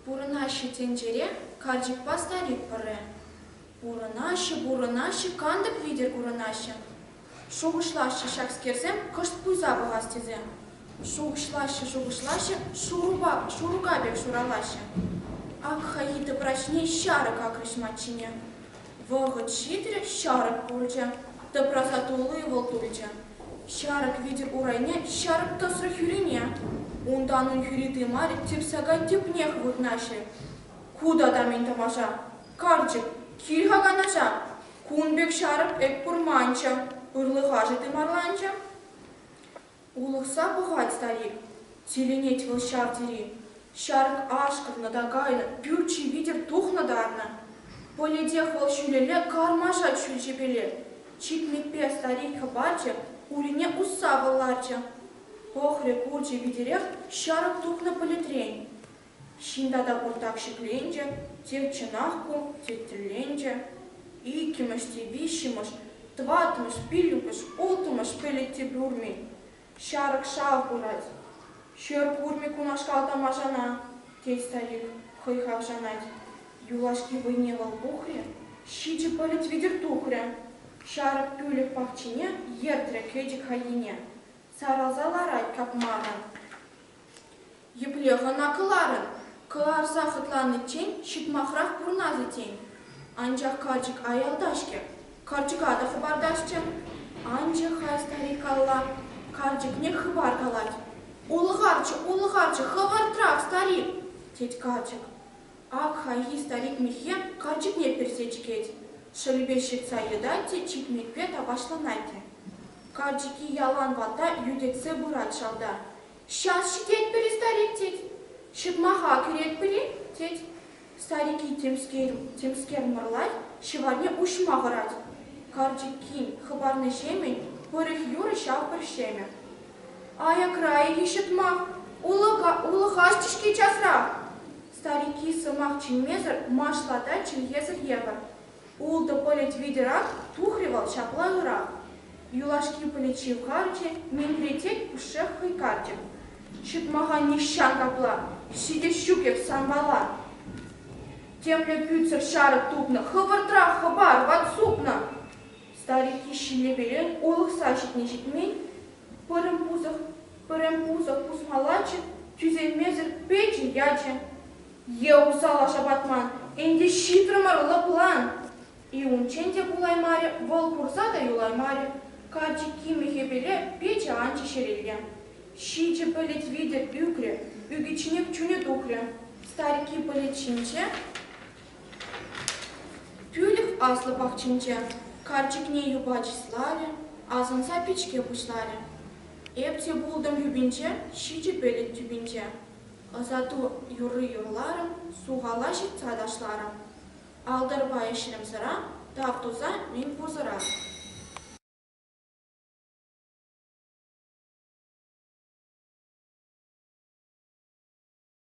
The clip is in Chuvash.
Пурӑнаҫҫӗ тӗнчере карчӑкпа старик пӗрре. Пурӑнаҫҫӗ, пурӑнаҫҫӗ, кантӑк витӗр курӑнаҫҫӗ. Шухӑшлаҫҫӗ ҫакскерсем кӑшт пуйса пӑхас тесе. Шухӑшлаҫҫӗ, шухӑшлаҫҫӗ, шурупа, шурӑка пек шуралаҫҫӗ. Ак хайхи тӑпраҫне ҫарӑк акрӗҫ маччине. Вӑхӑт ҫитерех ҫарӑк курчӗ. Тӑпраса тулли вӑл тулчӗ. Ҫарӑк витӗр урайне ҫарӑк тӑсрӗ хӳрине. Унтан ун хӳри тымарӗ тирсака тӗпнех вырнаҫрӗ. Ку тата мӗн тӑваша? Карчӑк, кил-ха канаша! Кун пек ҫарӑк эп курманччӗ, ырлӑхашӗ тымарланчӗ. Улӑхса пӑхать старик, тӗлӗнет вӑл ҫав тери. Ҫарӑк ашкӑннӑ та кайнӑ, пӳрчи витӗр тухнӑ-тарнӑ. Пӗлетех вӑл ҫӳлелле кармашать ҫӳл ҫепеле. Чикнипе старик хӑпарчӗ, урине усса вӑл ларчӗ. Пӑхрӗ, курчӗ витӗрех ҫарӑк тухнӑ пӗлӗтрен. Ҫын тата пуртак ҫӗкленчӗ, те чӑнах ку, теттелленчӗ. Иккӗмӗш те виҫҫӗмӗш, тӑваттӑмӗш, пиллӗкмӗш, улттӑмӗш пӗлӗт те пӳрни. Ҫарӑк шав курать. Ҫӗр курмӗ кунашкал тамашана, тет Салих, хӑй хавшанать. Юлашки вӑйне вӑл пухрӗ, ҫичӗ пӗлӗт витӗр тухрӗ. Ҫарӑк пӳлӗх пахчине ертрӗ Хетӗк хаййине. Сарӑлса ларать капмаррӑн. Еплех ӑна кӑларӑн? Кӑларса хӑтланиччен ҫӑтмахрах пурӑнас-и тен? Анчах карчӑк аялта-ҫке, карчӑка та хӑпартасчӗ. Анчӗ-ха старик алла, карчӑкне хыпар калать. Улӑхарччӗ, улӑхарччӗ, хӑвӑртрах, старик! тет карчӑк. Ак хайхи старик миххе карчӑкне персе чикет, шӑлӗпе ҫыртса йӑтать те чикмекпе тапаҫланать те. Карчӑкки ялан ватта йӳтӗтсе пырать шалта, Час ҫитетпӗр-и, старик? тет. Ҫырмаха кӳретпӗр-и? тет. Старики темскер мӑрлать, ҫӑварне уҫма хӑрать. Карчӑккин хыпарнӑҫемӗн пӑрӑх-юрӑ ҫав пӗр ҫемӗ. Аякра-и-и ҫӑтмах? Улӑхаҫҫӗ-ҫке часрах! Старики сӑмах чӗнмесӗр машлатать чӗлхесӗр евӗр. Ултӑ пӗлӗт витӗрах тухрӗ вӑл ҫапла ырах. Юлашки пӗлӗт ҫывхарчӗ, нимпре тек пушшех хӑйкарчӗ. Ҫӑтмаха нихҫан капла ҫитес ҫук эп санпала. Темле кӳтсӗр ҫарӑк тупнӑ, хӑвӑртрах хӑпар, ват супнӑ! Старикки ҫиллепеле улӑхса ҫитни-ҫитмен, пӗрӗм пусӑх, пӗрем пусӑх пусмаллаччӗ, тӳсеймесӗр печӗ ячӗ. Е усал шапатман, ӗнтӗ ҫитрӗмӗр лӑплан! И унччен те пулаймарӗ, вӑл курса та юлаймарӗ, карчӑк кимӗ хӗпӗле печӗ анчӗ ҫӗрелле. Ҫичӗ пӗлӗт витӗр ӳкрӗ, ӳкӗчченех чунӗ тухрӗ. Старикки пӗлӗт ҫинче тӳлӗх аслӑ пахчинче карчӑкне юпа чысларӗ, асӑнса пичке пуҫларӗ. Эп те пултӑм тӳпинче, ҫичӗ пӗлӗт тӳпинче. Ӑсату юрри юрларӑм, сухала ҫыртса ташларӑм. Алтӑрпа ӗҫрӗмсӗрах, тав туса мӗн пурсӑрах.